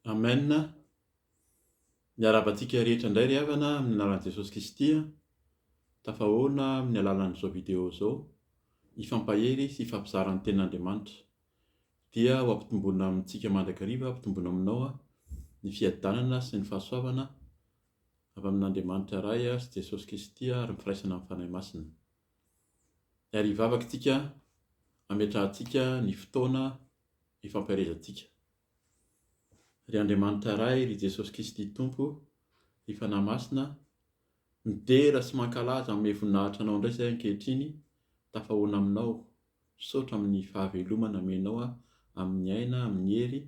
Amen, miarahaba antsika rehetra indray ry havana amin'ny anaran'i Jesosy Kristy, tafahoana amin'ny alalan'izao video izao, hifampahery sy hifampizara ny tenin'Andriamanitra. Dia ho ampitomboina amintsika mandrakariva, ampitomboina aminao ny fiadanana sy ny fahasoavana avy amin'Andriamanitra Ray sy Jesosy Kristy ary ny firaisana amin'ny Fanahy Masina. Ary hivavaka isika hametrahantsika ny fotoana hifampiharezantsika. Ry Andriamanitra Ray, ry Jesosy Kristy Tompo, ry Fanahy Masina, midera sy mankalaza hanome voninahitra Anao indray izahay ankehitriny, tafahoana Aminao. Misaotra amin'ny fahavelomana amenao aho amin'ny aina, amin'ny hery,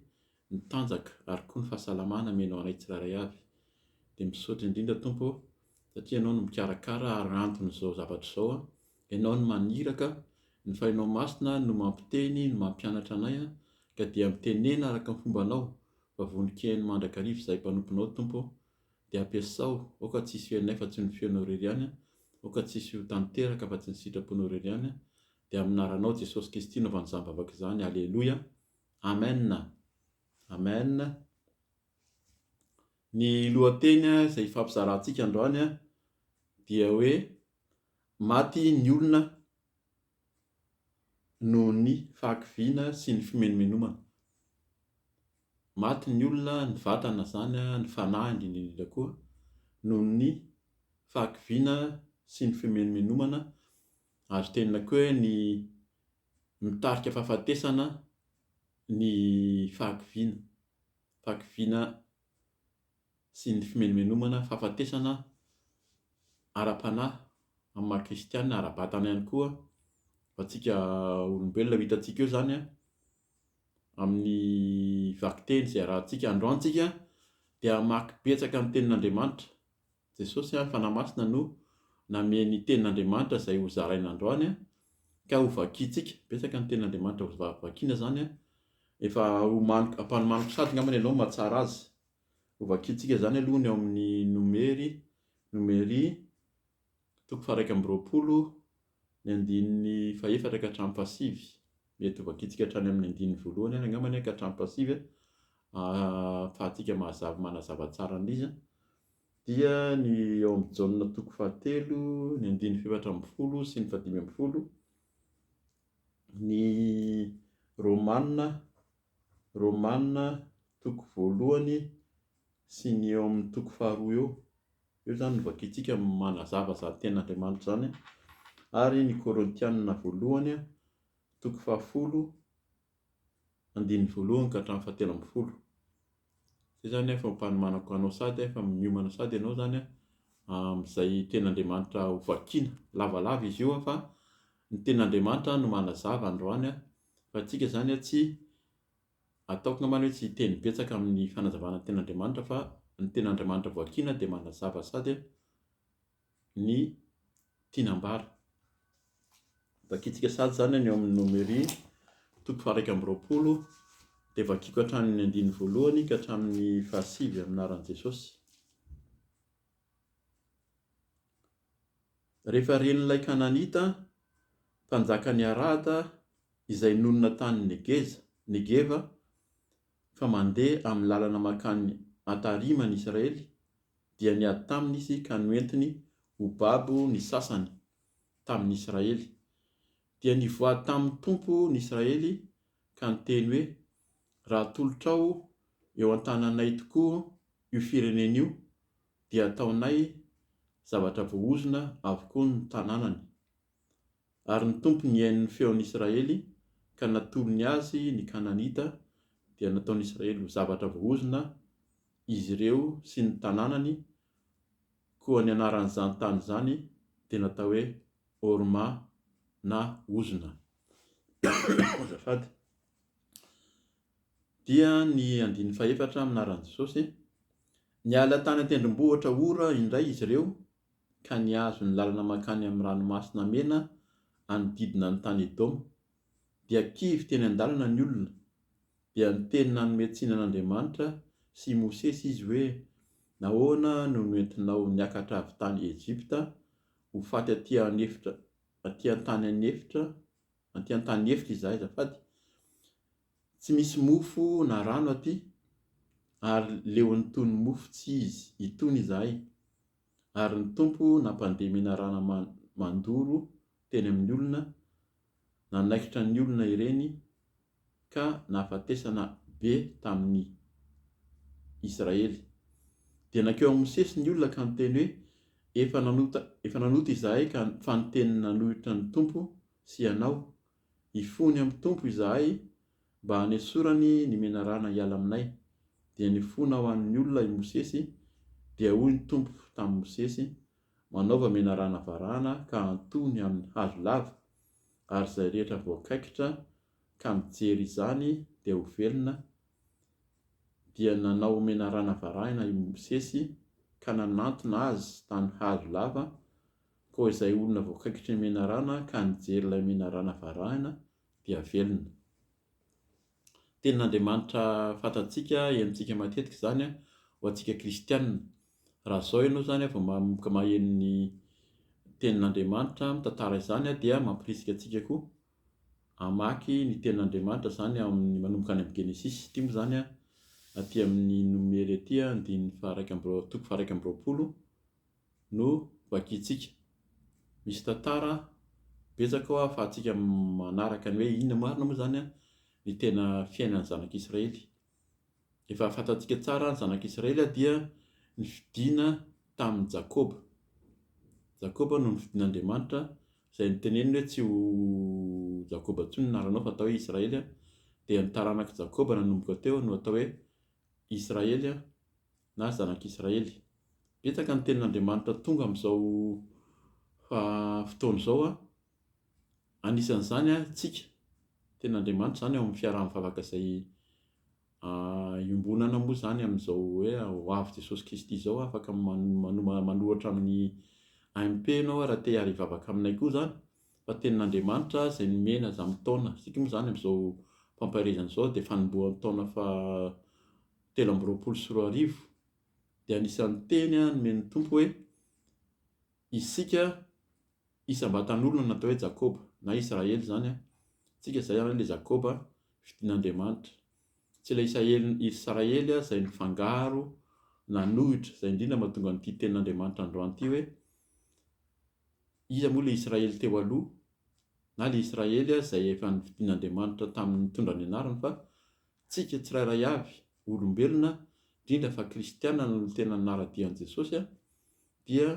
ny tanjaka ary koa ny fahasalamana amenao anay tsirairay avy. Dia misaotra indrindra Tompo ô satria Ianao no mikarakara ary anton'izao zavatra izao, Ianao no maniraka, ny Fahinao Masina no mampiteny, no mampianatra anay ka dia mitenena araka ny fombanao fa vonon-kiheno mandrakariva izahay mpanomponao Tompo ô. Dia ampiasao, aoka tsy hisy feonay fa tsy ny feonao irery ihany an, aoka tsy hisy ho tanteraka afa tsy ny sitraponao irery ihany an, dia amin'ny anaranao Jesosy Kisty anaovany izany vavaka izany, Aleloia, Amen a! Amen a! Ny lohateny izay hifampizarantsika androany an, dia hoe, Maty ny olona noho ny fahakiviana sy ny fimenomenomana. Maty ny olona, ny vatana izany, ny fanahy indrindra indrindra koa noho ny fahakiviana sy ny fimenomenomana ary tena koa hoe ny mitarika fahafatesana ny fahakiviana, fahakiviana sy ny fimenomenomana, fahafatesana ara-panahy amin'ny maha kristiana, ara-batana ihany koa ho antsika olombelona, ho hitantsika eo izany an. amin'ny vakiteny izay arahantsika androany tsika dia hamaky betsaka ny tenin'Andriamanitra. Jesosy ary Fanahy Masina no namey ny tenin'Andriamanitra izay ho zaraina androany ka ho vakintsika. Betsaka ny tenin'Andriamanitra ho vakina zany efa homaniko ampanomaniko sady angambany ianao mahatsara azy. Ho vakintsika zany aloha ny ao amin'ny nomery, nomery, Toko faharaika amby roapolo, ny andininy fahefatra ka hatramin'ny fahasivy. Mety ho vakintsika hatrany amin'ny andininy voalohany ary angamba anie ka hatramin'ny fahasivy, ahafahantsika mahazava manazava tsara an'izy an! dia ny ao amin'ny Jaona toko fahatelo, ny andininy fahefatra ambin'ny folo sy ny fahadimy ambin'ny folo, ny Romana, Romana toko voalohany sy ny eo amin'ny toko faharoa eo. Io izany no vakintsika manazava izany tenin'Andriamanitra izany ary ny Korintianina voalohany toko fahafolo andininy voalohany ka hatramin'ny fahatelo ambin'ny folo. Izay izany efa ampanomanako anao sady efa miomana sady ianao izany amin'izay tenin'Andriamanitra ho vakiana. Lavalava izy io fa ny tenin'Andriamanitra no manazava androany fa antsika izany tsy Ataoko angambany hoe tsy hiteny betsaka amin'ny fanazavana ny ten'Andriamanitra fa ny ten'Andriamanitra voakiana dia manazava sady ny tiany hambara. Vakintsika sady izany any eo amin'ny Nomery toko faha-iraika amby roapolo dia vakiako hatramin'ny andininy voalohany ka hatramin'ny fahasivy amin'ny anaran'i Jesosy. Rehefa ren'ilay Kananita, mpanjakan'i Arada, izay nonina tany Negeza, Negeva, fa mandeha amin'ny lalana mankany Atarima ny Israely, dia niady taminy izy ka noentiny ho babo ny sasany tamin'ny Israely. Dia nivoaha tamin'ny Tompo ny Israely ka niteny hoe, Raha atolotrao eo an-tananay tokoa io firenena io, dia ataonay zavatra voahozona avokoa ny tanànany. Ary ny Tompo nihaino ny feon'i Israely, ka natolony azy ny Kananita, dia nataon'i Israely ho zavatra voahozona izy ireo sy ny tanànany, koa ny anaran'izany tany izany dia natao hoe Horma, na Ozona. Dia ny andininy fahefatra amin'ny anaran'i Jesosy, Niala tany an-tendrombohitra Hora indray izy ireo ka nihazo ny lalana mankany amin'ny Ranomasina Mena hanodidina ny tany Edoma. Dia kivy teny an-dalana ny olona. Dia niteny nanome tsiny an'Andriamanitra sy i Mosesy izy hoe, Nahoana no noentinao niakatra avy tany Ejipta ho faty aty an-efitra, aty an-tany an-efitra, Aty antany efitra izahay azafady. Tsy misy mofo na rano aty ary leon'ny tony mofo tsy izy itony izahay ary ny Tompo nampandeha menarana mandoro teny amin'ny olona nanaikitra ny olona ireny ka nahafatesana be tamin'ny Israely. Dia nankeo amin'i Mosesy ny olona ka niteny hoe, Efa nanota, efa nanota izahay ka, fa niteny nanohitra ny Tompo sy ianao. Hifony amin'ny Tompo izahay mba hanesorany ny menarana hiala aminay. Dia nifona ho an'ny olona i Mosesy, dia hoy ny Tompo tamin'i Mosesy, Manaova menarana varahana ka antoho ny amin'ny hazo lava. ary izay rehetra voakaikitra ka mijery izany dia ho velona, dia nanao menarana varahina i Mosesy ka nanantona azy tany hazo lava, koa izay olona voakaikitry ny menarana ka nijery ilay menarana varahina dia velona. Tenin'Andriamanitra fantatsika, henontsika matetika izany ho antsika kristiana. Raha izao ianao izany vao manomboka maheno ny Tenin'Andriamanitra, mitantara izany, dia mampirisika antsika koa hamaky ny Tenin'Andriamanitra, izany amin'ny manomboka any amin'ny Genesisy. Ity moa izany aty amin'ny Nomery aty, andininy faharaika amby roa- toko faharaika amby roapolo. no vakintsika. Misy tantara betsaka ao ahafahantsika manaraka ny hoe inona marina moa izany ny tena fiainan'ny zanak'Israely. Efa fantatsika tsara ny zanak'Israely dia nifidina tamin'i Jakoba. Jakoba no nifidin'Andriamanitra izay noteneniny hoe tsy ho Jakoba intsony ny anaranao fa atao hoe Israely. Dia ny taranak'i Jakoba nanomboka teo no atao hoe Israely na zanak'Israely. Betsaka ny tenin'Andriamanitra tonga amin'izao fotoana izao, anisan'izany antsika. Ny tenin'Andriamanitra izany ao amin'ny fiaraha mivavaka izay iombonana moa izany amin'izao hoe ho avy Jesosy Kristy izao aho, afaka manoratra amin'ny AMP ianao raha te hiara hivavaka aminay koa izany fa ny tenin'Andriamanitra izay nomena izany taona, isika moa izany amin'izao fampaherezana izao dia fanombohan'ny taona faha telo amby roapolo sy roa arivo, dia anisan'ny teny nomen'ny Tompo hoe, Isika isam-batan'olona natao hoe Jakoba, na Israely izany an, isika izay an, ilay Jakoba fidin'Andriamanitra. Tsy ilay Isaely, Israely izay nifangaro, nanohitra, izay indrindra no mahatonga an'ity tenin'Andriamanitra androany ity hoe, iza moa ilay Israely teo aloha, na ilay Israely izay efa nifidin'Andriamanitra tamin'ny nitondra ny anarany fa Tsika tsirairay avy, olombelona, indrindra fa kristiana no tena nanara-dia an'i Jesosy, dia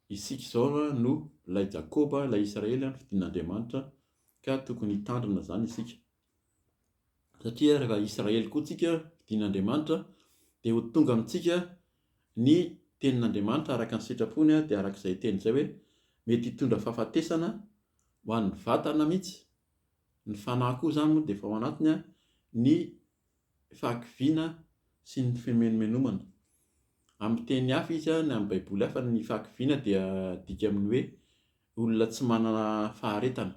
isika izao no ilay Jakoba, ilay Israely fidin'Andriamanitra, ka tokony hitandrina izany isika. Satria raha Israely koa tsika, fidin'Andriamanitra, dia ho tonga amintsika ny tenin'Andriamanitra araka ny sitrapony, dia araka izay teny izay hoe mety hitondra fahafatesana ho an'ny vatana mihitsy, Ny fanahy koa izany moa dia efa ao anatiny ny fahakiviana sy ny fimenomenomana. Amin'ny teny hafa izy na amin'ny baiboly hafa ny fahakiviana dia adika amin'ny hoe olona tsy manana faharetana,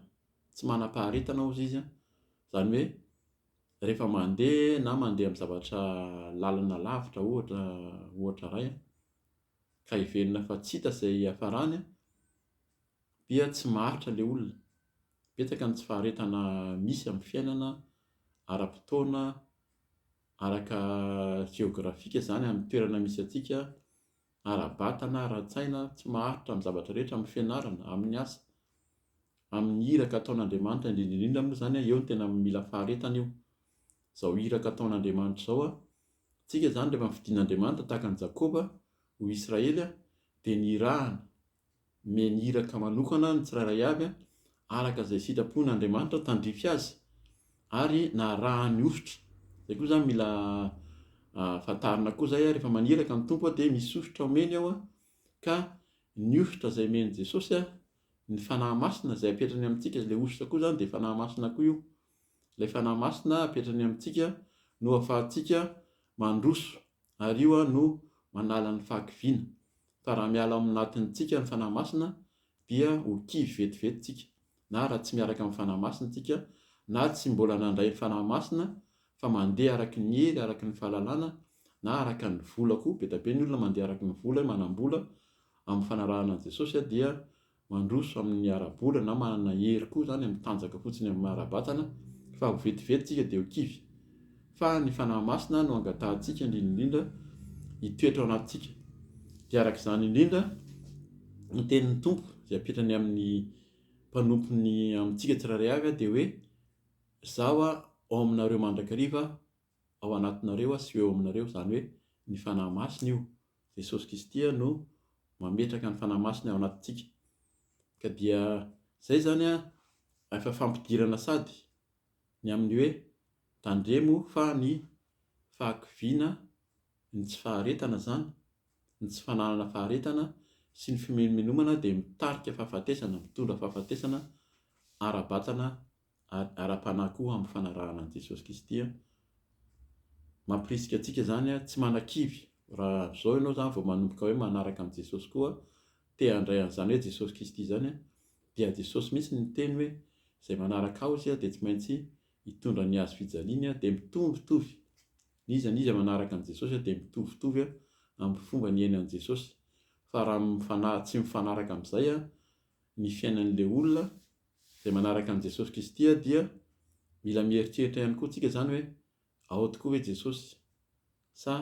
tsy manam-paharetana hozy izy, izany hoe rehefa mandeha na mandeha amin'ny zavatra lalana lavitra ohatra ohatra iray ka heverina fa tsy hita izay hiafarany dia tsy maharitra ilay olona. Betsaka ny tsy faharetana misy amin'ny fiainana ara-potoana, araka jeografika izany amin'ny toerana misy antsika, ara-batana, ara-tsaina, tsy maharitra amin'ny zavatra rehetra, amin'ny fianarana, amin'ny asa, amin'ny iraka ataon'Andriamanitra, indrindra indrindra moa izany an, eo no tena mila faharetana io, izao iraka ataon'Andriamanitra izao an, isika izany rehefa nofidin'Andriamanitra tahaka an'i Jakoba ho Israely an, dia nirahana, Nomeny iraka manokana ny tsirairay avy araka izay sitrapon' Andriamanitra tandrify azy ary narahany hosotra. Izay koa izany mila fantarina koa izay rehefa maniraka ny Tompo dia misy hosotra omeny ao ka ny hosotra izay omen'i Jesosy ny Fanahy Masina izay apetrany amintsika, ilay hosotra koa izany dia Fanahy Masina koa io. Ilay Fanahy Masina apetrany amintsika no ahafahantsika mandroso Ary io aho no manala ny fahakiviana, fa raha miala ao anatintsika ny Fanahy Masina dia ho kivy vetivety tsika, na raha tsy miaraka amin'ny Fanahy Masina tsika, na tsy mbola nandray ny Fanahy Masina fa mandeha araka ny hery, araka ny fahalalana, na araka ny vola koa, be dia be ny olona mandeha araka ny vola, manam-bola, amin'ny fanarahana an'i Jesosy dia mandroso amin'ny ara-bola na manana hery koa izany amin'ny tanjaka fotsiny amin'ny maha-ara-batana fa ho vetivety isika dia ho kivy. Fa ny Fanahy Masina no angatahantsika indrindra indrindra hitoetra ao anatintsika. Dia araka izany indrindra ny tenin'ny Tompo izay apetrany amin'ny mpanompony amintsika tsirairay avy dia hoe, Izaho ao aminareo mandrakariva ao anatinareo aho sy ho eo aminareo, izany hoe ny Fanahy Masina io. Jesosy Kristy no mametraka ny Fanahy Masiny ao anatintsika. Ka dia izay izany an, efa fampidirana sady ny amin'ny hoe tandremo fa ny fahakiviana, ny tsy faharetana izany, ny tsy fananana faharetana sy ny fimenomenomana dia mitarika fahafatesana, mitondra fahafatesana ara-batana ary ara-panahy koa amin'ny fanarahana an'i Jesosy Kristy. Mampirisika antsika izany tsy manakivy. Raha amin'izao ianao izany vao manomboka hoe manaraka an'i Jesosy koa, te handray an'izany hoe Jesosy Kristy izany, dia Jesosy mihitsy no niteny hoe, Izay manaraka Ahy dia tsy maintsy hitondra ny hazo fijaliany, dia mitovitovy. N'iza n'iza manaraka an'i Jesosy dia mitovitovy amin'ny fomba niainy an'i Jesosy. Fa raha tsy mifanaraka amin'izay ny fiainan'ilay olona, izay manaraka an'i Jesosy Kristy dia mila mieritreritra ihany koa tsika izany hoe ao tokoa ve Jesosy sa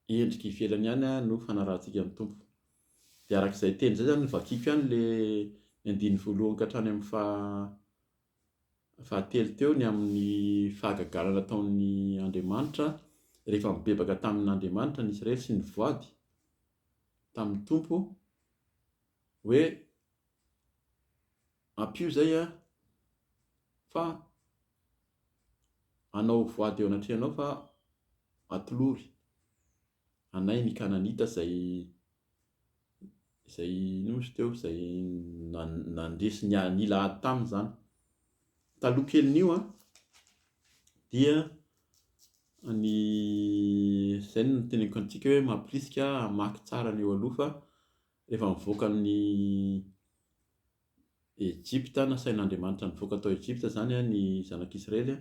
endrika ivelany ihany no fanarahantsika ny Tompo. Dia araka izay teny izay izany no vakiko ihany le ny andininy voalohany ka hatrany amin'ny faha fahatelo teo ny amin'ny fahagagana nataon'ny Andriamanitra rehefa mibebaka tamin'Andriamanitra ny Israely sy ny voady tamin'ny Tompo hoe ampio zay a fa anao voady eo anatrehanao fa atolory anay ny kananita zay zay nosy teo zay nandresy ny nila ady taminy zany taloha kelin'io a dia ny zay no teneniko antsika hoe mampirisika hamaky tsara ny eo aloha fa Rehefa nivoaka an'i Ejipta, nasain'Andriamanitra nivoaka tao Ejipta izany ny zanak'Israely,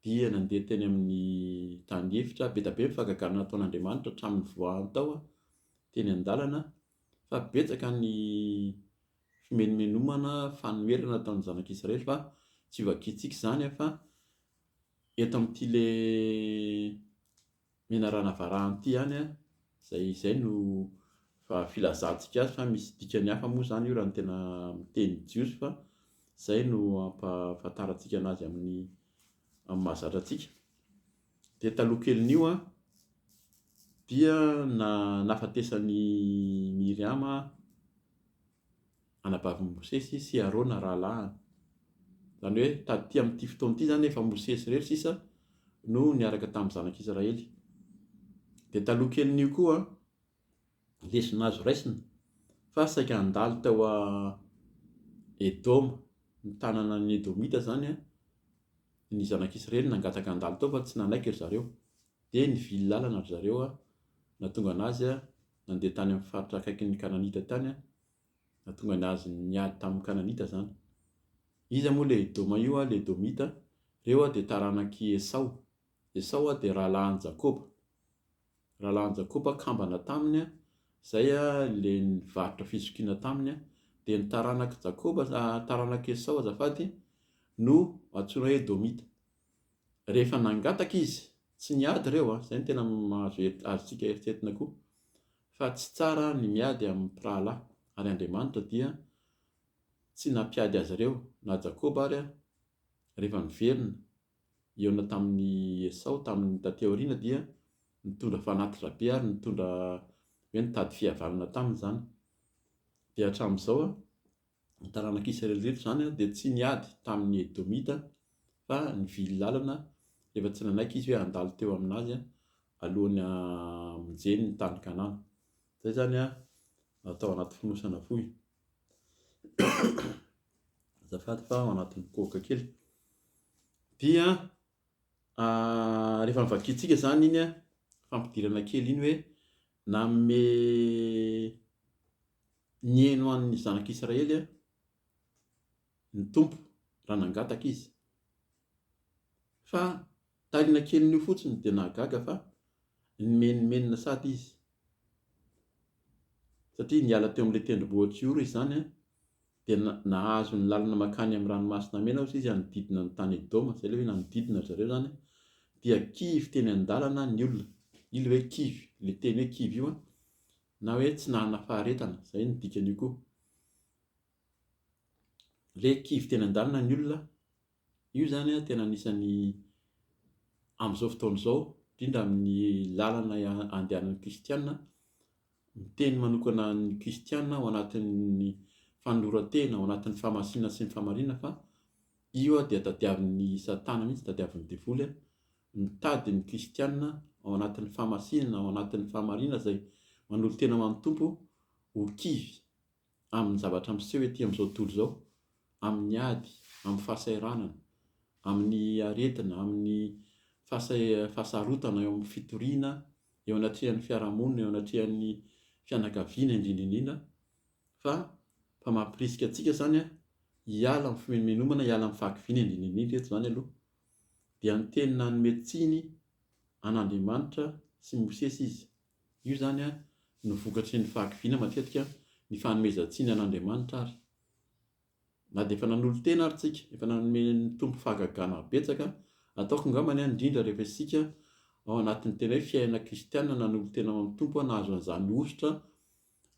dia nandeha teny amin'ny tany efitra. Be dia be ny fahagagana nataon'Andriamanitra hatramin'ny nivoahany tao teny an-dalana, fa betsaka ny fimenomenomana, fanoherana nataon'ny zanak'Israely fa tsy ho vakintsika izany fa eto amin'ity ilay Menarana Varanty ihany an! izay izay no fa filazantsika azy fa misy dikany hafa moa izany io raha ny tena miteny jiosy fa izay no ampahafantarantsika anazy amin'ny amin'ny mahazatra antsika dia taloha kelin'io an dia na nafatesan'i Miriama anabavin'i Mosesy sy Arona rahalahiny. Izany hoe taty amin'ity fotoana ity izany efa Mosesy irery sisa no niaraka tamin'ny zanak'Israely. Dia taloha kelin'io koa lesona azo raisina fa saika handalo tao a Edoma, ny tanana ny Edomita izany a, ny zanak'Israely nangataka handalo tao fa tsy nanaiky ry zareo. Dia nivily lalana ry zareo a, nahatonga anazy a. Nandeha tany amin'ny faritra akaikin'ny Kananita tany aho. Nahatonga ny azy niady tamin'ny Kananita izany. Iza moa ilay Edoma io? Ilay Edomita. Ireo dia taranak'i Esao. Esao dia rahalahin'i Jakoba. Rahalahin'i Jakoba kambana taminy, izay ilay nivarotra fizokiana taminy. Dia ny taranak'i Jakoba, taranak'i Esao azafady, no antsoina hoe Edomita. Rehefa nangataka izy, tsy niady ireo a, izay no tena mahazo azontsika eritreretina koa, fa tsy tsara ny miady amin'ny mpirahalahy, ary Andriamanitra dia tsy nampiady azy ireo, na Jakoba ary rehefa niverina hihaona tamin'i Esao tamin'ny taty aoriana dia nitondra fanatitra be ary nitondra hoe nitady fihavanana taminy izany, dia hatramin'izao a, Ny taranak'i Israely rehetra izany dia tsy niady tamin'ny Edomita fa nivily lalana rehefa tsy nanaiky izy hoe handalo teo aminazy alohan'ny hamonjeny ny tany Kanana. Izay izany atao anaty fonosana fohy. Azafady fa ao anatin'ny kohoka kely. Dia Rehefa novakiantsika izany iny fampidirana kely iny hoe, nanome nihaino an'ny zanak'Israely ny Tompo raha nangataka izy. Fa taoriana kelin'io fotsiny dia nahagaga fa nimenomenona sady izy, satria niala teo amin'ilay tendrombohitra io izany Dia nahazo ny lalana mankany amin'ny Ranomasina Mena ozy izy hanodidina ny tany Edoma, izay ilay hoe nanodidina ry zareo izany, dia kivy teny an-dalana ny olona. Io ilay hoe kivy, ilay teny hoe kivy io, na hoe tsy nanana faharetana, izay no dikan'io koa. Ilay kivy teny an-dalana ny olona, Io izany tena anisan'ny amin'izao fotoana izao, indrindra amin'ny lalana andehanan'ny kristiana, miteny manokana ny kristiana ao anatin'ny fanoloran-tena, ao anatin'ny fahamasinana sy ny fahamarinana fa io dia tadiavin'i Satana mihitsy, tadiavin'ny devoly mitady ny kristiana ao anatin'ny fahamasinana, ao anatin'ny fahamarinana izay manolo-tena ho an'ny Tompo ho kivy. amin'ny zavatra miseho ety amin'izao tontolo izao, amin'ny ady, amin'ny fahasahiranana, amin'ny aretina, amin'ny fahasarotana eo amin'ny fitoriana eo anatrehan'ny fiarahamonina, eo anatrehan'ny fianakaviana indrindra indrindra fa fa mampirisika antsika izany hiala amin'ny fimenomenomana, hiala amin'ny fahakiviana indrindra indrindra eto izany aloha. Dia niteny nanome tsiny an'Andriamanitra sy Mosesy izy. Io izany no vokatry ny fahakiviana matetika, ny fanomezan-tsiny an'Andriamanitra ary. Na dia efa nanolo-tena ary tsika, efa nanome ny Tompo fahagagana betsaka, ataoko angambany indrindra rehefa isika ao anatin'ny tena hoe fiainana kristiana nanolo-tena ao amin'ny Tompo nahazo an'izany hosotra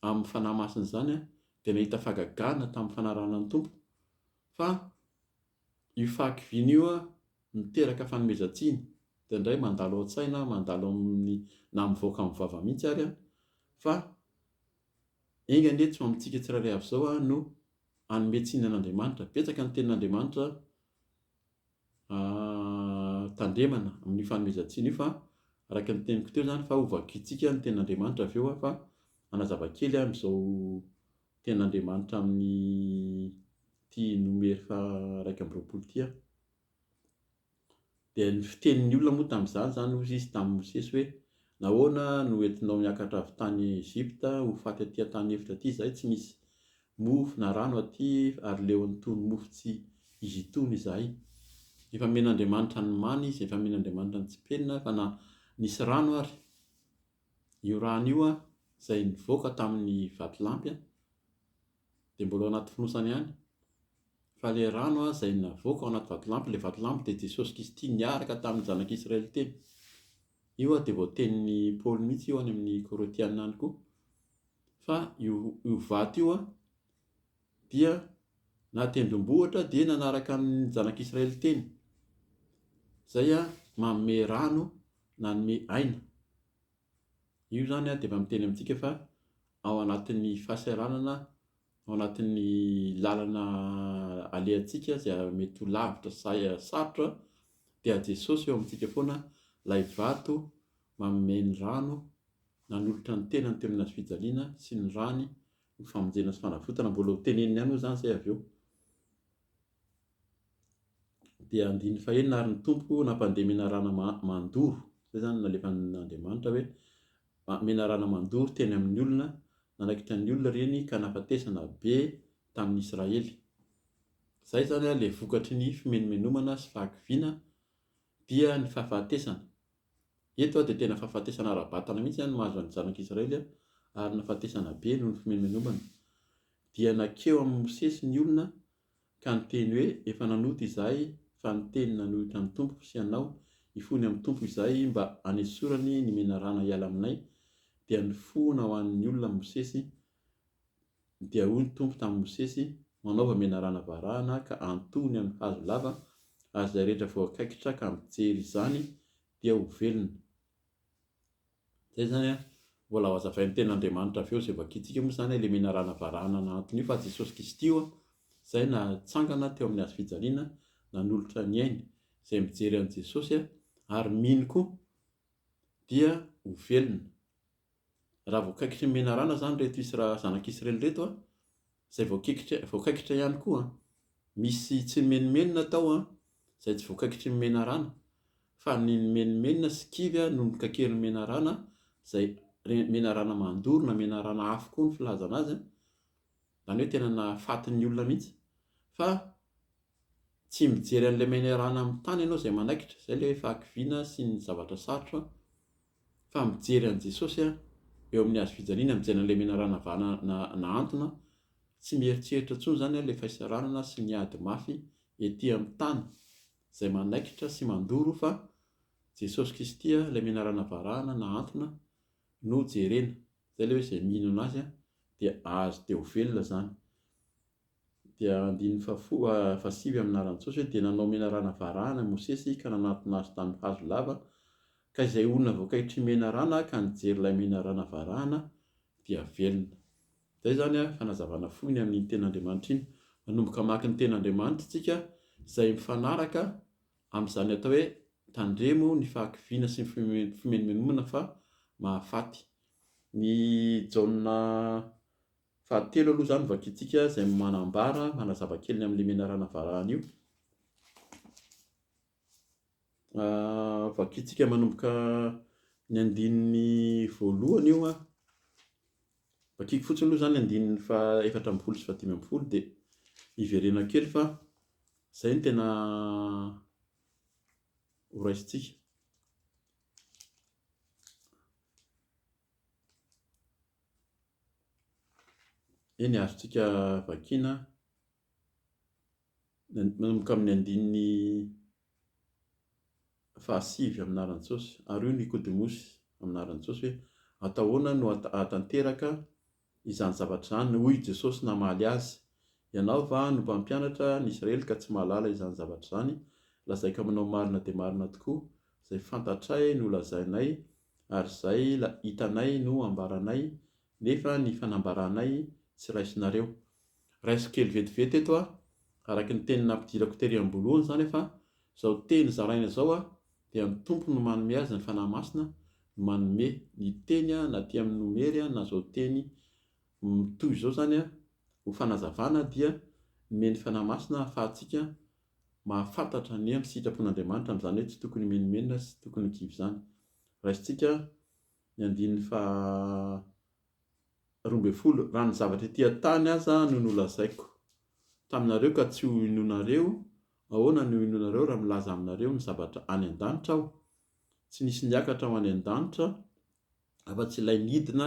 amin'ny Fanahy Masina izany dia nahita fahagagana tamin'ny fanarahana ny Tompo fa Io fahakiviana io miteraka fanomezan-tsiny, indraindray mandalo an-tsaina, mandalo amin'ny, na mivoaka amin'ny vava mihitsy ary, fa enga anie tsy ho amintsika tsirairay avy izao no hanome tsiny an'Andriamanitra. Betsaka ny tenin'Andriamanitra tandremana amin'io fanomezan-tsiny io fa araka ny teniko teo izany fa hovakintsika ny tenin'Andriamanitra avy eo fa hanazava kely amin'izao Tena Andriamanitra amin'ity nomer fa iraika amby roapolo ity aho. Dia ny fitenin'ny olona moa tamin'izany izany hozy izy tamin'i Mosesy hoe nahoana no entinao niakatra avy tany Egypta ho faty aty an-tany efitra aty izahay tsy misy mofo na rano aty ary leo an'itony mofo tsy izy itony izahay. Efa nomen'Andriamanitra ny mana izy, efa nomen'Andriamanitra ny tsipelina fa na nisy rano ary. Io rano io izay nivoaka tamin'ny vatolampy dia mbola ao anaty fonosana ihany, fa ilay rano izay navoaka ao anaty vatolampy, ilay vatolampy dia Jesosy Kristy niaraka tamin'ny zanak'i Israely teny. Io dia voatenin'i Paoly mihitsy io any amin'ny Korintiana any koa. Fa io, io vato io Dia na tendrombohitra dia nanaraka ny zanak'Israely teny, izay manome rano nanome aina. Io izany dia mba miteny amintsika fa ao anatin'ny fahasahiranana, ao anatin'ny lalana alehantsika izay mety ho lavitra sa sarotra dia Jesosy eo amintsika foana ilay vato manome ny rano nanolotra ny tenany teo amin'ny hazofijaliana sy ny rany Ho famonjena sy fanavotana, mbola ho teneniny ihany moa izany izay avy eo. Dia andininy fahenina, ary ny Tompo nampandeha menarana mandoro, izay izany nalefan'Andriamanitra hoe menarana mandoro teny amin'ny olona, nanaikitra ny olona ireny ka nahafatesana be tamin'ny Israely. Izay izany ilay vokatry ny fimenomenomana sy fahakiviana dia ny fahafatesana. Eto dia tena fahafatesana ara-batana mihitsy no mahazo an'ny Zanak'i Israely, ary nahafatesana be noho ny fimenomenomana. Dia nankeo amin'i Mosesy ny olona ka niteny hoe, Efa nanota izahay, fa ny teny nanohitra ny Tompo sy ianao, hifony amin'ny Tompo izahay mba hanesorany ny menarana hiala aminay. Dia nifohona ho an'ny olona Mosesy Dia hoy ny Tompo tamin'i Mosesy, Manaova menarana varahana ka antohony amin'ny hazo lava, ary izay rehetra voakaikitra ka mijery izany dia ho velona. Izay izany an, mbola ho azavain'ny Tenin'Andriamanitra avy eo izay vakintsika moa izany ilay menarana varahana nahanton'io fa Jesosy Kristy io izay natsangana teo amin'ny hazofijaliana nanolotra ny ainy. Izay mijery an'i Jesosy ary mino koa dia ho velona. raha voakaikitry ny menarana izany ireto Isra, zanak'i Israely ireto an, izay voakikitra, voakaikitra ihany koa an, misy tsy nimenomenona tao an, izay tsy voakaikitry ny menarana, fa ny nimenomenona sy kivy an no nikaikerin'ny menarana, izay menarana mandoro na menarana afo koa ny filazana azy an, izany hoe tena nahafaty ny olona mihitsy, fa tsy mijery an'ilay menarana amin'ny tany ianao izay manaikitra, izay ilay fahakiviana sy ny zavatra sarotra an, fa mijery an'i Jesosy aho eo amin'ny hazo fijaliana, mijery an'ilay menarana vahana na nahantona, tsy mieritreritra intsony izany aho ilay fahisaranana sy ny ady mafy ety amin'ny tany izay manaikitra sy mandoro fa Jesosy Kristy aho ilay menarana varahana nahantona no jerena, izay ilay hoe izay mihinana azy dia azo dia ho velona izany. Dia andininy fahafolo a fahasivy amin' ny anaran' Jesosy hoe, Dia nanao menarana varahana Mosesy ka nanatona azy tamin' ny hazo lava, ka izay olona voakaitr'I menarana ka nijery ilay menarana varahana dia velona. Izay izany a fanazavana fohy ny amin' iny Teny Andriamanitra iny. Manomboka hamaky ny Teny Andriamanitra isika izay mifanaraka amin' izany atao hoe tandremo ny fahakiviana sy ny fimenomenomana fa mahafaty. Ny Jaona Fahatelo aloha izany vakintsika izay manambara, manazava kely ny amin'ilay menarana varahana io. Vakintsika manomboka ny andininy voalohany io an. Vakiko fotsiny aloha izany andininy fa efatra ambin'ny folo sy fahadimy ambin'ny folo dia hiverena kely fa izay no tena horaisintsika. Eny, azontsika vakiana manomboka amin'ny andininy fahasivy amin'ny anaran'i Jesosy, ary io Nikodemosy amin'ny anaran'i Jesosy hoe, Atao ahoana no hahatanteraka izany zavatra izany? Hoy i Jesosy namaly azy, Ianao va no mpampianatra ny Isiraely ka tsy mahalala izany zavatra izany? Lazaiko aminao marina dia marina tokoa, Izay fantatray no lazainay, ary izay hitanay no ambaranay, nefa ny fanambaranay tsy raisinareo. Raisiko kely vetivety eto aho, araka ny teny nampidirako tery am-boalohany izany fa izao teny zaraina izao dia ny Tompo no manome azy ny Fanahy Masina no manome ny teny na aty amin'ny nomery na izao teny mitohy izao izany ho fanazavana dia nomeny Fanahy Masina ahafahantsika mahafantatra ny hery sy sitrapon'Andriamanitra amin'izany hoe tsy tokony himenomenona sy tsy tokony ho kivy izany. Raisintsika ny andininy faha roa ambin'ny folo, Raha ny zavatra ety an-tany aza no nolazaiko taminareo ka tsy ho inoanareo, ahoana no hinoanareo raha milaza aminareo ny zavatra any an-danitra aho? Tsy nisy niakatra ho any an-danitra afa-tsy ilay nidina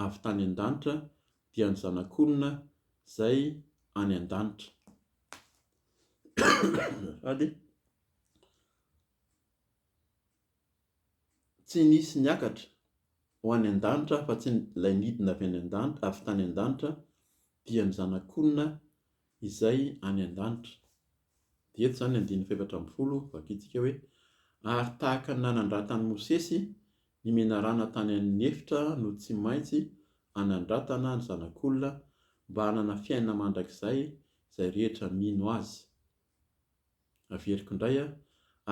avy tany an-danitra, dia ny Zanak'olona izay any an-danitra. Sady tsy nisy niakatra ho any an-danitra afa-tsy ilay nidina avy any an-danitra, avy tany an-danitra, dia ny Zanak'Olona izay any an-danitra. Dia eto izany andininy fahefatra ambin'ny folo, vakintsika hoe, Ary tahaka ny nanandratan'i Mosesy ny menarana tany amin'ny efitra no tsy maintsy hanandratana ny Zanak'Olona, mba hanana fiainana mandrakizay izay rehetra mino azy. Averiko indray an,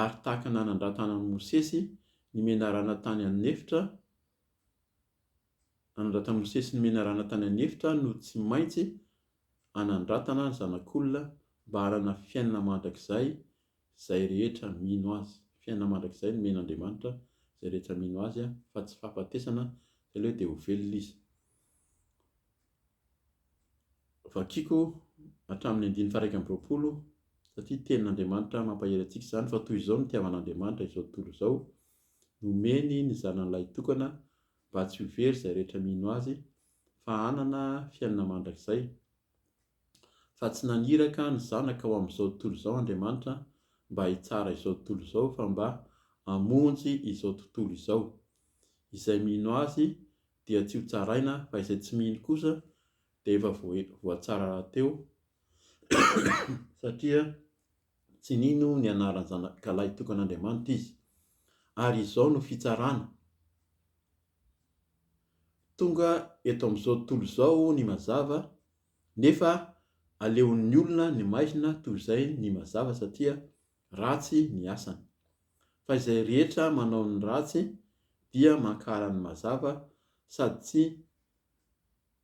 ary tahaka nanandratana an'i Mosesy ny menarana tany an'efitra, nanandratan'i Mosesy ny menarana tany an'efitra no tsy maintsy hanandratana ny Zanak'olona mba hanana fiainana mandrakizay izay rehetra mino azy. Fiainana mandrakizay no omen'Andriamanitra izay rehetra mino azy fa tsy fahafatesana, izay ilay hoe dia ho velona izy. Vakiko hatramin'ny andininy faha-iraika amby roapolo satria tenin'Andriamanitra mampahery antsika izany fa toy izao no nitiavan'Andriamanitra izao tontolo izao, nomeny ny Zanany Lahitokana mba tsy ho very izay rehetra mino Azy fa hanana fiainana mandrakizay. Fa tsy naniraka ny Zanaka ho amin'izao tontolo izao Andriamanitra mba hitsara izao tontolo izao fa mba hamonjy izao tontolo izao. Izay mino Azy dia tsy ho tsaraina fa izay tsy mino kosa dia efa voatsara rahateo satria tsy nino ny anaran'ny Zanakalahy tokan'Andriamanitra izy. Ary izao no fitsarana. Tonga eto amin'izao tontolo izao ny mazava nefa aleon'ny olona ny maizina toy izay ny mazava satria ratsy ny asany. Fa izay rehetra manao ny ratsy dia mankahala ny mazava sady tsy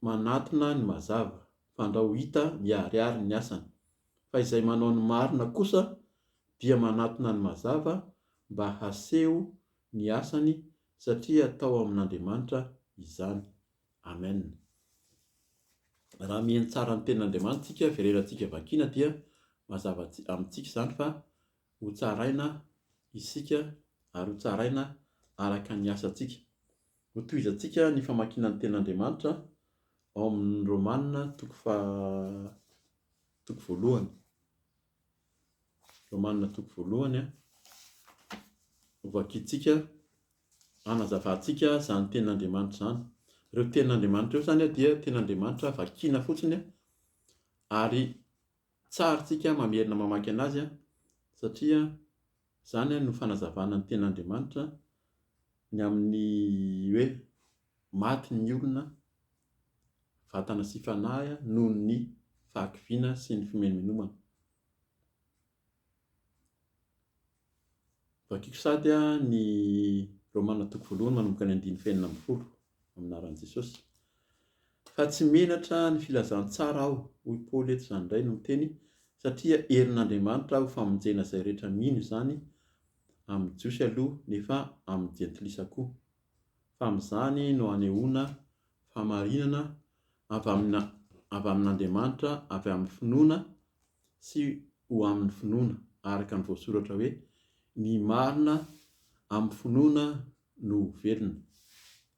manatona ny mazava, fandrao ho hita miharihary ny asany. Fa izay manao ny marina kosa dia manatona ny mazava mba haseho ny asany satria atao amin'Andriamanitra izany. Amen. Raha mihaino tsara ny tenin'Andriamanitra isika, fireherantsika vakiana dia mazava amintsika izany fa ho tsaraina isika ary ho tsaraina araka ny asantsika. Ho tohizantsika ny famakiana ny tenin'Andriamanitra ao amin'ny Romana toko faha toko voalohany. Romanina toko voalohany a. Hovakintsika, hanazavantsika izany tenin'Andriamanitra izany. Ireo tenin'Andriamanitra ireo izany dia tenin'Andriamanitra vakiana fotsiny ary tsarintsika mamerina mamaky an'azy satria Izany àry no fanazavana ny Tenin'Andriamanitra ny amin'ny hoe maty ny olona, vatana sy fanahy, noho ny fahakiviana sy ny fimenomenomana. Vakiko sady ny Romana toko voalohany manomboka ny andininy fahenina ambin'ny folo. amin'ny anaran'i Jesosy. Fa tsy menatra ny filazantsara aho, hoy Paoly eto izany indray no miteny, satria herin'Andriamanitra ho famonjena izay rehetra mino izany, amin'ny Jiosy aloha nefa amin'ny Jentilisa koa. Fa amin'izany no hanehoana fahamarinana avy amin'ny avy amin'Andriamanitra avy amin'ny finoana sy ho amin'ny finoana, araka ny voasoratra hoe, Ny marina amin'ny finoana no ho velona.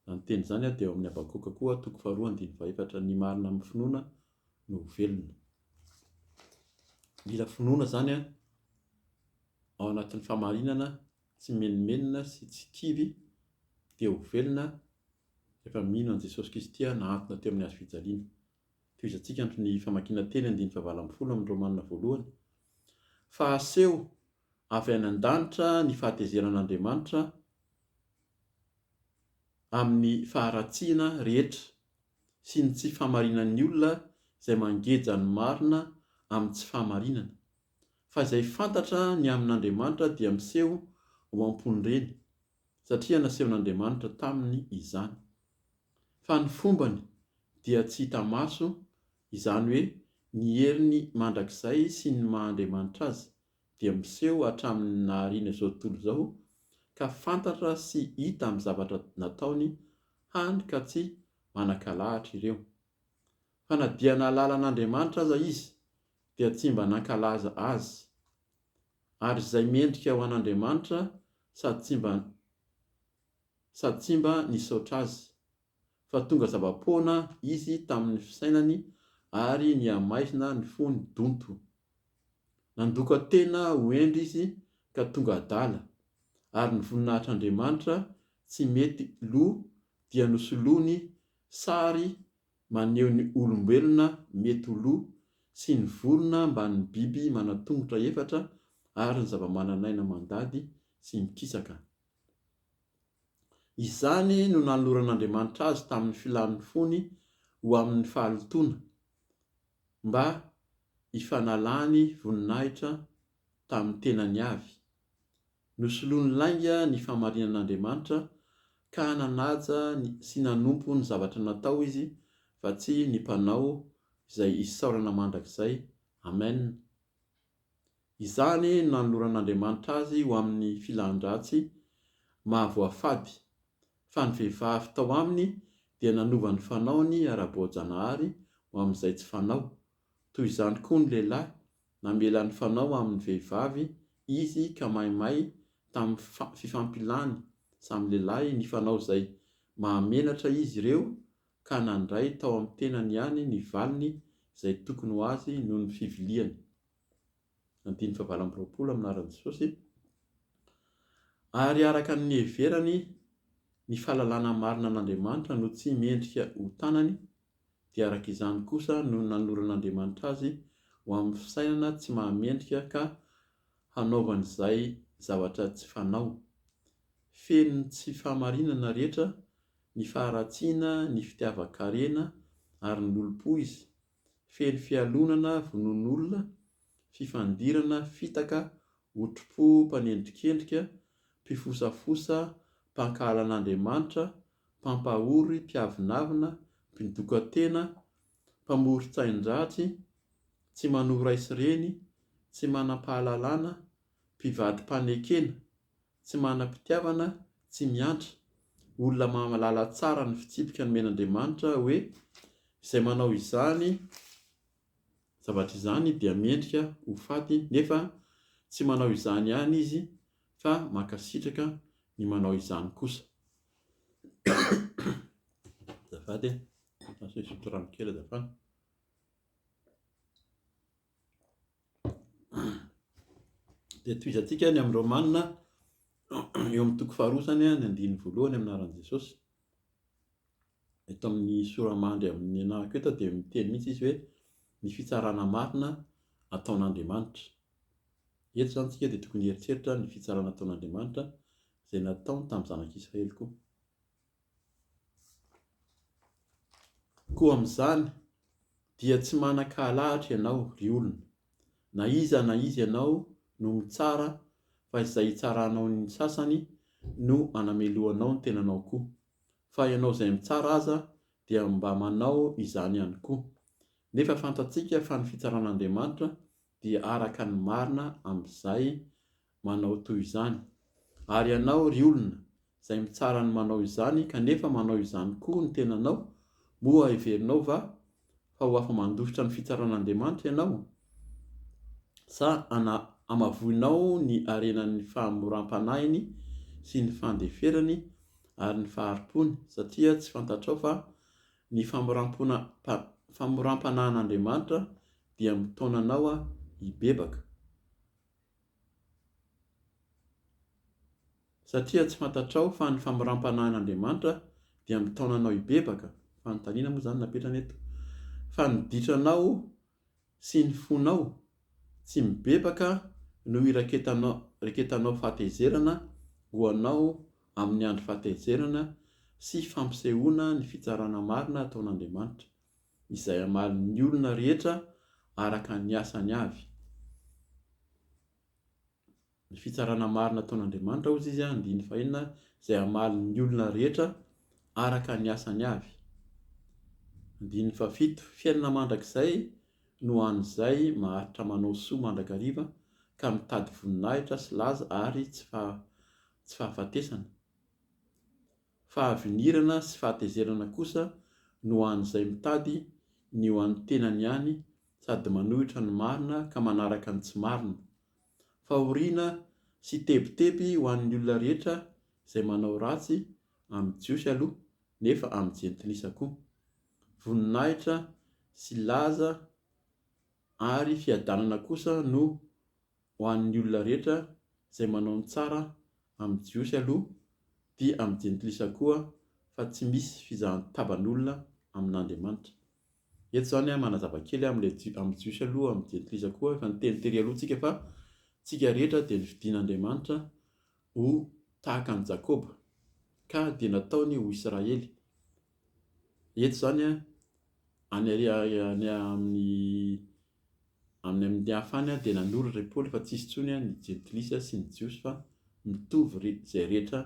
Raha niteny izany aho dia ao amin'ny Habakoka koa, toko faharoa andininy fahaefatra, ny marina amin'ny finoana no ho velona. Mila finoana izany an, ao anatin'ny fahamarinana, tsy mimenomenona sy tsy kivy, dia ho velona rehefa mino an'i Jesosy Kristy aho nahantona teo amin'ny hazo fijaliana. Tohizantsika ny famakiana teny andininy fahavalo ambin'ny folo amin'ny Romana voalohany, fa aseho avy any an-danitra ny fahatezeran'Andriamanitra amin'ny faharatsiana rehetra sy ny tsy fahamarinan'ny olona izay mangeja ny marina amin'ny tsy fahamarinana, fa izay fantatra ny amin'Andriamanitra dia miseho ho am-pon'ireny, satria nasehon'Andriamanitra taminy izany. Fa ny fombany dia tsy hita maso, izany hoe ny heriny mandrakizay sy ny maha-Andriamanitra Azy, dia miseho hatramin'ny nahariana izao tontolo izao ka fantatra sy hita amin'ny zavatra nataony hany ka tsy manan-kalahatra ireo. Fa na dia nahalala an'Andriamanitra aza izy dia tsy mba nankalaza Azy. Ary izay mendrika ho an'Andriamanitra sady tsy mba sady tsy mba nisaotra Azy fa tonga zava-poana izy tamin'ny fisainany ary nihamaizina ny fony donto. Nandoka tena ho hendry izy ka tonga adala, ary ny voninahitr'Andriamanitra tsy mety lo dia nosoloany sary maneho ny olombelona mety ho lo sy ny vorona mbamin'ny biby manan-tongotra efatra ary ny zava-manan'aina mandady sy mikisaka. Izany no nanoloran'Andriamanitra azy tamin'ny filàn'ny fony ho amin'ny fahalotoana, mba hifanalany voninahitra tamin'ny tenany avy. Nosoloany lainga ny fahamarinan'Andriamanitra ka nanaja sy nanompo ny zavatra natao izy fa tsy ny Mpanao izay isaorana mandrakizay. Amen. Izany no nanoloran'Andriamanitra azy ho amin'ny filan-dratsy mahavoafady, fa ny vehivavy tao aminy dia nanova ny fanaony ara-boajanahary ho amin'izay tsy fanao, toy izany koa ny lehilahy, namela ny fanao amin'ny vehivavy izy ka maimay tamin'ny fifampilany samy lehilahy nifanao izay mahamenatra izy ireo ka nandray tao amin'ny tenany ihany ny valiny izay tokony ho azy noho ny fiviliany, andininy fahavalo amby roapolo amin'ny laharan'i Jesosy, ary araka ny niheverany ny fahalalana marina an'Andriamanitra no tsy mendrika ho tanany, dia araka izany kosa no nanoran'Andriamanitra azy ho amin'ny fisainana tsy mahamendrika ka hanaovany izay zavatra tsy fanao. Feno ny tsy fahamarinana rehetra ny faharatsiana, ny fitiavan-karena ary ny lolompo izy, feno fialonana, vonoan'olona, fifandirana, fitaka, otripo, mpanendrikendrika, mpifosafosa, mpankahala an'Andriamanitra, mpampahory, mpiavonavona, mpidokan-tena, mpamoron-tsain-dratsy, tsy manohy ray sy reny, tsy manam-pahalalana, mpivadi-panekena, tsy manam-pitiavana, tsy miandry, olona mahalala tsara ny fitsipika nomen'Andriamanitra hoe izay manao izany zavatra izany dia mendrika ho faty nefa tsy manao izany ihany izy fa mankasitraka ny manao izany kosa. Dia tohizantsika any amin'ny Romana eo amin'ny toko faharoa izany ny andininy voalohany amin'ny anaran'i Jesosy. Eto amin'ny sora-mandry amin'ny anahako eto dia miteny mihitsy izy hoe ny fitsarana marina ataon'Andriamanitra. Eto izany isika dia tokony hieritreritra ny fitsarana ataon'Andriamanitra izay nataony tamin'ny zanak'Israely koa. Koa amin'izany dia tsy manan-kahalahatra ianao, ry olona, na iza na iza ianao no mitsara fa izay hitsaranao ny sasany no anamelohanao ny tenanao koa, fa ianao izay mitsara aza dia mba manao izany ihany koa. Nefa fantatsika fa ny fitsaran'Andriamanitra dia araka ny marina amin'izay manao toy izany. Ary ianao, ry olona, izay mitsara ny manao izany, kanefa manao izany koa ny tenanao, moa heverinao va fa ho afa-mandositra ny fitsaran'Andriamanitra ianao? Sa ana-hamavoinao ny harenan'ny fahamoram-panahiny sy ny fandeferany ary ny fahari-pony, satria tsy fantatrao fa ny famoram-pona, pa, famoram-panahin'Andriamanitra dia mitaona anao hibebaka? Satria tsy fantatrao fa ny famoram-panahin'Andriamanitra dia mitaona anao hibebaka, fanontaniana moa izany no napetrany eto, fa ny ditranao sy ny fonao tsy mibebaka no iraketanao fahatezerana ho anao amin'ny andro fahatezerana sy fampisehoana ny fitsarana marina ataon'Andriamanitra. izay hamalin'ny olona rehetra araka ny asany avy. Ny fitsarana marina ataon'Andriamanitra, hoy izy, andininy fahenina, izay hamalin'ny olona rehetra araka ny asany avy. Andininy fahafito, fiainana mandrakizay no ho an'izay maharitra manao soa mandrakariva ka mitady voninahitra sy laza ary tsy fahafatesana. Fahavinirana sy fahatezerana kosa no ho an'izay mitady ny ho an'ny tenany ihany sady manohitra ny marina ka manaraka ny tsy marina. Fahoriana sy tebiteby ho an'ny olona rehetra izay manao ratsy, amin'ny Jiosy aloha, nefa amin'ny Jentilisa koa. Voninahitra sy laza ary fiadanana kosa no ho an'ny olona rehetra izay manao ny tsara amin'ny Jiosy aloha dia amin'ny Jentilisa koa fa tsy misy fizahan-taban'olona amin'Andriamanitra. Eto izany manazava kely amin'ilay amin'ny Jiosy aloha amin'ny Jentilisa koa efa niteny tery aloha tsika fa tsika rehetra dia nofidin'Andriamanitra ho tahaka an'i Jakoba ka dia nataony ho Israely. Eto izany any amin'ny Amin'ny amin'ny hafany aho dia nanoratra i Paoly fa tsisy intsony ny jentilisa sy ny jiosy fa mitovy ry izay rehetra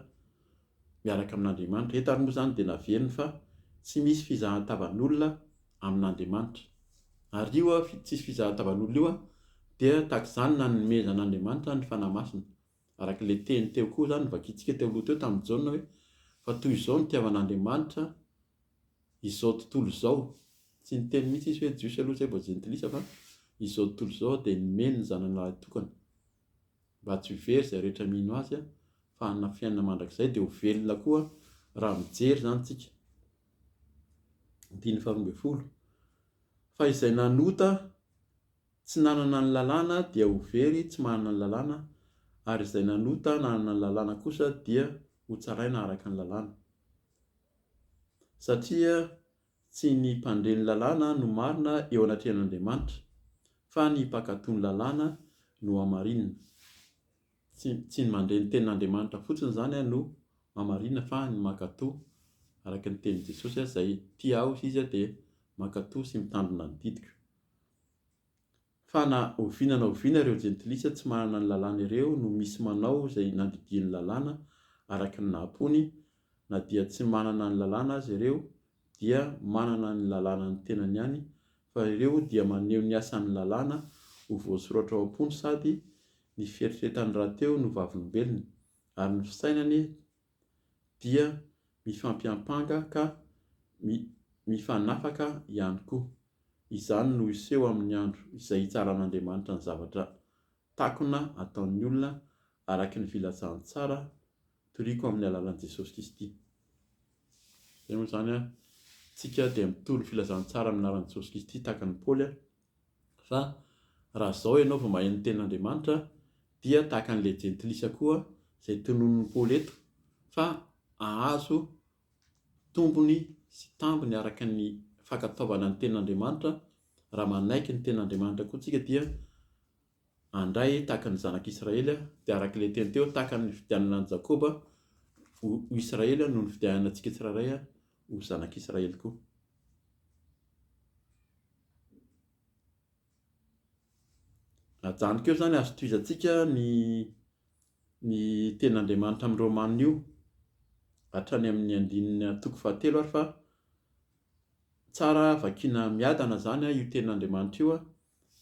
miaraka amin'Andriamanitra. Eto ary moa izany dia naveriny fa tsy misy fizahan-tavan'olona amin'Andriamanitra. Ary io tsisy fizahan-tavan'olona io dia tahaka izany nanomezan'Andriamanitra ny Fanahy Masina. Araka ilay teny teo koa izany novakintsika teo aloha teo tamin'i Jaona hoe, fa toy izao ny itiavan'Andriamanitra izao tontolo izao, tsy niteny mihitsy izy hoe Jiosy aloha izay vao Jentilisa fa izao tontolo izao dia nomeny ny Zanany lahy tokana mba tsy ho very izay rehetra mino Azy fa hanana fiainana mandrakizay dia ho velona koa raha mijery izany isika. Andininy faharoa ambin'ny folo. Fa izay nanota tsy nanana ny lalàna dia ho very tsy manana ny lalàna ary izay nanota nanana ny lalàna kosa dia ho tsaraina araka ny lalàna. Satria tsy ny mpandre ny lalàna no marina eo anatrehan'Andriamanitra, fa ny mpankatò ny lalàna no hamarinina. Tsy, tsy ny mandre ny tenin'Andriamanitra fotsiny izany no hamarinina, fa ny mankatò, araka ny tenin'i Jesosy, izay tia Ahy Izy dia mankatò sy mitandrina ny didiko. Fa na oviana na oviana ireo jentilisa tsy manana ny lalàna ireo no misy manao izay nandidian'ny lalàna araka ny naha-mpony, na dia tsy manana ny lalàna aza ireo dia manana ny lalànan'ny tenany ihany, fa ireo dia maneho ny asan'ny lalàna ho voasoratra ao am-pony sady ny fieritreretany rahateo no vavolombelony, ary ny fisainany dia mifampiampanga ka mifanafaka ihany koa. Izany no hiseho amin'ny andro izay hitsaran'Andriamanitra ny zavatra takona ataon'ny olona araka ny filazany tsara toriko amin'ny alalan'i Jesosy Kristy. Izay moa izany an, isika dia mitory ny filazantsara amin'ny anaran'i Jesosy Kristy tahaka an'i Paoly Fa raha izao ianao vao maheno ny tenin'Andriamanitra dia tahaka an'ilay jentilisa koa izay tononin'i Paoly eto fa hahazo tombony sy tambiny araka ny fankatoavana ny tenin'Andriamanitra, raha manaiky ny tenin'Andriamanitra koa tsika dia handray tahaka ny zanak'i Israely, dia araka ilay teny teo, tahaka ny nividianana an'i Jakoba ho Israely no nividianana antsika tsirairay ho zanak'i Israely koa. Ajanoko eo izany azo tohizantsika ny ny tenin'Andriamanitra amin'ny Romanina io hatrany amin'ny andininy toko fahatelo ary fa tsara vakiana miadana izany io tenin'Andriamanitra io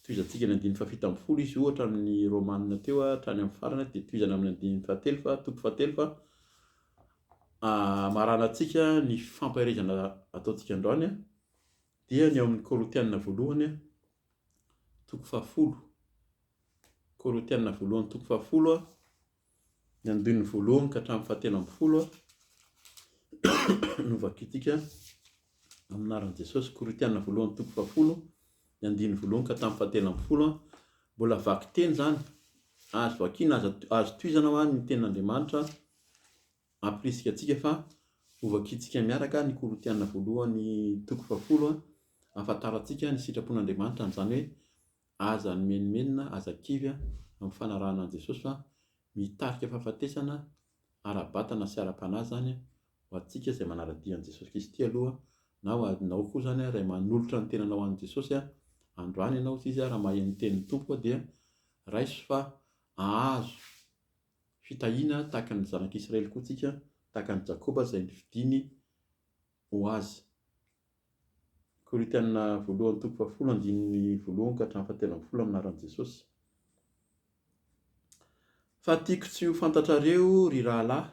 Tohizantsika ny andininy fahafito ambin'ny folo izy ohatra amin'ny Romanina teo hatrany amin'ny farany dia tohizana amin'ny andininy fahatelo fa toko fahatelo fa hamaranantsika ny fampaherezana ataontsika androany dia ny ao amin'ny Korintianina voalohany toko fahafolo Korintianina voalohany toko fahafolo Ny andininy voalohany ka hatramin'ny fahatelo ambin'ny folo no vakintsika amin'ny anaran'i Jesosy. Korintiana voalohany toko fahafolo, ny andininy voalohany ka hatramin'ny fahatelo ambin'ny folo. Mbola vakiteny izany, azo vakiana, azo at- azo tohizana ho any ny tenin'Andriamanitra ampirisika antsika fa hovakintsika miaraka ny Korintiana voalohany toko fahafolo, hahafantarantsika ny sitrapon'Andriamanitra, an'izany hoe Aza nimenomenona, aza kivy amin'ny fanarahana an'i Jesosy fa mitarika fahafatesana ara-batana sy ara-panahy izany ho antsika izay manara-dia an'i Jesosy Kristy aloha na ho anao koa izany ray manolotra ny tenanao an'i Jesosy androany ianao hoy izy raha maheno ny tenin'ny Tompo dia raiso fa ahazo fitahiana tahaka ny zanak'Israely koa tsika tahaka an'i Jakoba izay nifidiny ho azy Korintiana voalohany toko fahafolo andininy voalohany ka hatramin'ny fahatelo ambin'ny folo amin'ny anaran'i Jesosy. Fa tiako tsy ho fantatrareo, ry rahalahy,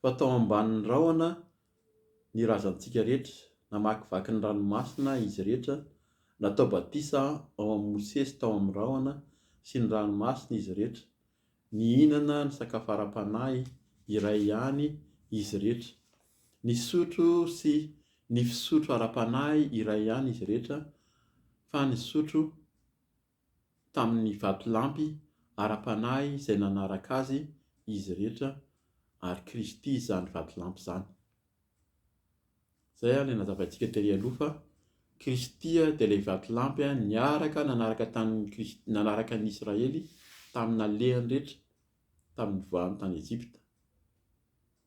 fa tao ambanin'ny rahona ny razantsika rehetra, namakivaky ny ranomasina izy rehetra, natao batisa ao amin'i Mosesy tao amin'ny rahona sy ny ranomasina izy rehetra, Nihinana ny sakafo ara-panahy iray ihany izy irehetra. Nisotro sy ny fisotro ara-panahy iray ihany izy irehetra, fa nisotro tamin' ny vatolampy ara-panahy izay nanaraka azy izy irehetra, ary Kristy izany vatolampy izany. Izay ilay nazavaintsika tery aloha fa Kristy dia ilay vatolampy niaraka nanaraka tamin'i Kristy nanaraka ny Israely tamin'ny nalehany rehetra tamin'ny nivoahany tany Ejipta.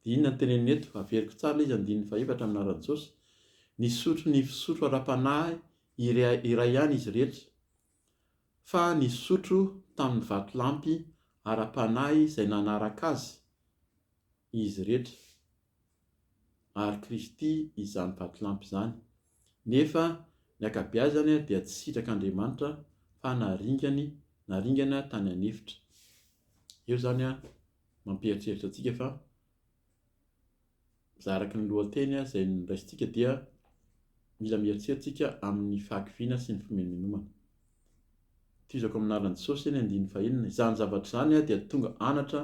Dia inona no teneniny eto? Averiko tsara ilay izy andininy fahefatra amin'ny anaran'i Jesosy. Nisotro ny fisotro ara-panahy iray, iray ihany izy rehetra fa nisotro tamin'ny vatolampy ara-panahy izay nanaraka azy izy rehetra. ary Kristy izany vatolampy izany. Nefa ny ankabeazany dia tsy sitrak'Andriamanitra fa naringany, naringana tany an'efitra. Eo izany mampieritreritra antsika fa za araka ny lohateny izay noraisintsika dia mila mieritreritra isika amin'ny fahakiviana sy ny fimenomenomana. Tohizako amin'ny lalan'i Jesosy eny andiany fahenina, izany zavatra izany dia tonga anatra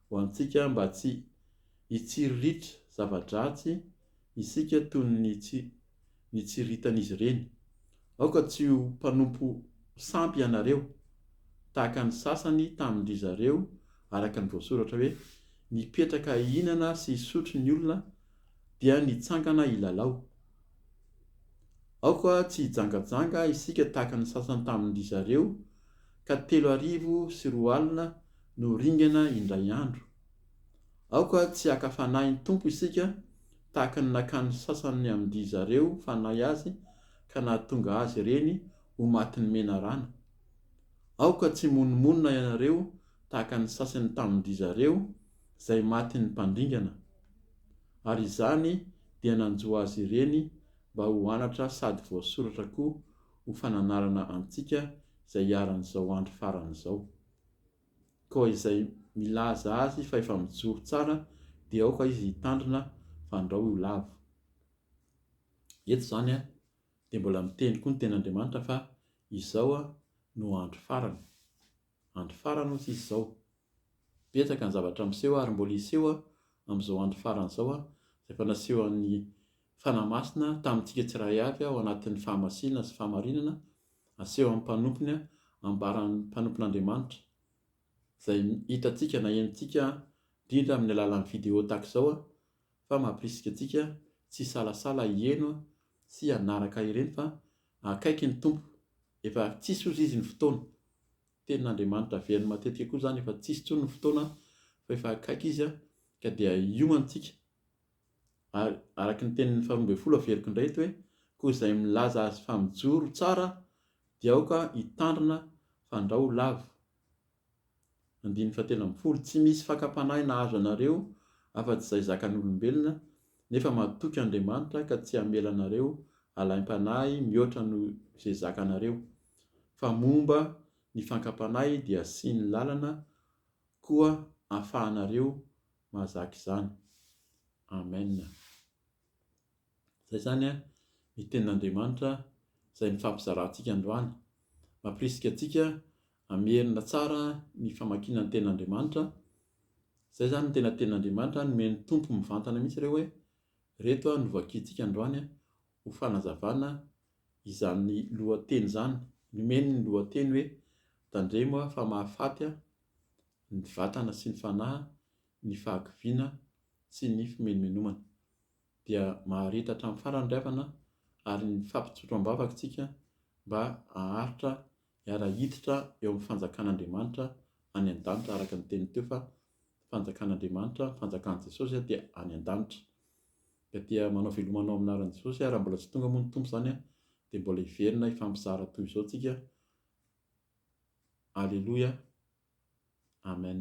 ho antsika mba tsy hitsiriritra zava-dratsy isika toy ny nitsiriritan'izy ireny. Aoka tsy ho mpanompo sampy ianareo, tahaka ny sasany tamin-dry zareo, araka ny voasoratra hoe, Nipetraka hihinana sy hisotro ny olona, dia nitsangana hilalao. Aoka tsy hijangajanga isika tahaka ny sasany tamin-dry zareo, ka telo arivo sy roa alina no ringana indray andro. Aoka tsy haka fanahin'ny Tompo isika tahaka ny nakan'ny sasany amin-dry zareo fanahy azy ka nahatonga azy ireny ho matin'ny menarana. Aoka tsy himonomonona ianareo tahaka ny sasany tamin-dry zareo, izay matin'ny mpandringana, ary izany dia nanjo azy ireny mba ho anatra sady voasoratra koa ho fananarana antsika izay iharan'izao andro farany izao. Koa izay milaza azy fa efa mijoro tsara dia aoka izy hitandrina fa andrao ho lavo. Eto izany dia mbola miteny koa ny Tenin'Andriamanitra fa izao no andro farany. Andro farany hoy tsisy izao. Betsaka ny zavatra miseho ary mbola hiseho amin'izao andro farany izao izay efa nasehon'ny Fanahy Masina tamintsika tsiraray avy ao anatin'ny fahamasinana sy fahamarinana asehon'ny mpanompony ambaran'ny mpanompon'Andriamanitra izay hitantsika na henontsika indrindra amin'ny alalan'ny video tahaka izao fa mampirisika antsika tsy hisalasala hiheno sy hanaraka ireny fa Akaiky ny Tompo. Efa tsisy ozy izy ny fotoana. Tenin'Andriamanitra averiny matetika koa izany efa tsisy intsony ny fotoana fa efa akaiky izy an, ka dia hiomantsika. Ary araka ny tenin'ny faharoa ambin'ny folo averiko indray eto hoe, koa izay milaza azy fa mijoro tsara dia aoka hitandrina fandrao lavo. Andininy fahatelo ambin'ny folo, Tsy misy fakam-panahy nahazo anareo afa-tsy izay zakan'olombelona, nefa matoky Andriamanitra ka tsy hamela anareo alaim-panahy mihoatra noho izay zakanareo, fa momba ny fakam-panahy dia asiany lalana koa ahafahanareo mahazaka izany. Amen. Izay izany ny tenin'Andriamanitra izay nifampizarantsika androany. Mampirisika antsika Hamerina tsara ny famakiana ny tenin'Andriamanitra, izay izany ny tena tenin'Andriamanitra, nomen'ny Tompo mivantana mihitsy ireo hoe, ireto no vakintsika androany ho fanazavana izany lohateny izany, nomeny ny lohateny hoe, Tandremo fa mahafaty ny vatana sy ny fanahy ny fahakiviana sy ny fimenomenomana. Dia maharitra hatramin'ny farany ry havana ary ny fampitsotroam-bavaka isika mba haharitra Hiara-hiditra eo amin'ny fanjakan'Andriamanitra any an-danitra araka ny teniny teo fa fanjakan'Andriamanitra, ny fanjakan'i Jesosy dia any an-danitra. Ka dia manao veloma anao amin'ny anaran'i Jesosy aho, raha mbola tsy tonga moa ny Tompo izany dia mbola hiverina hifampizara toy izao tsika. Aleloia. Amen.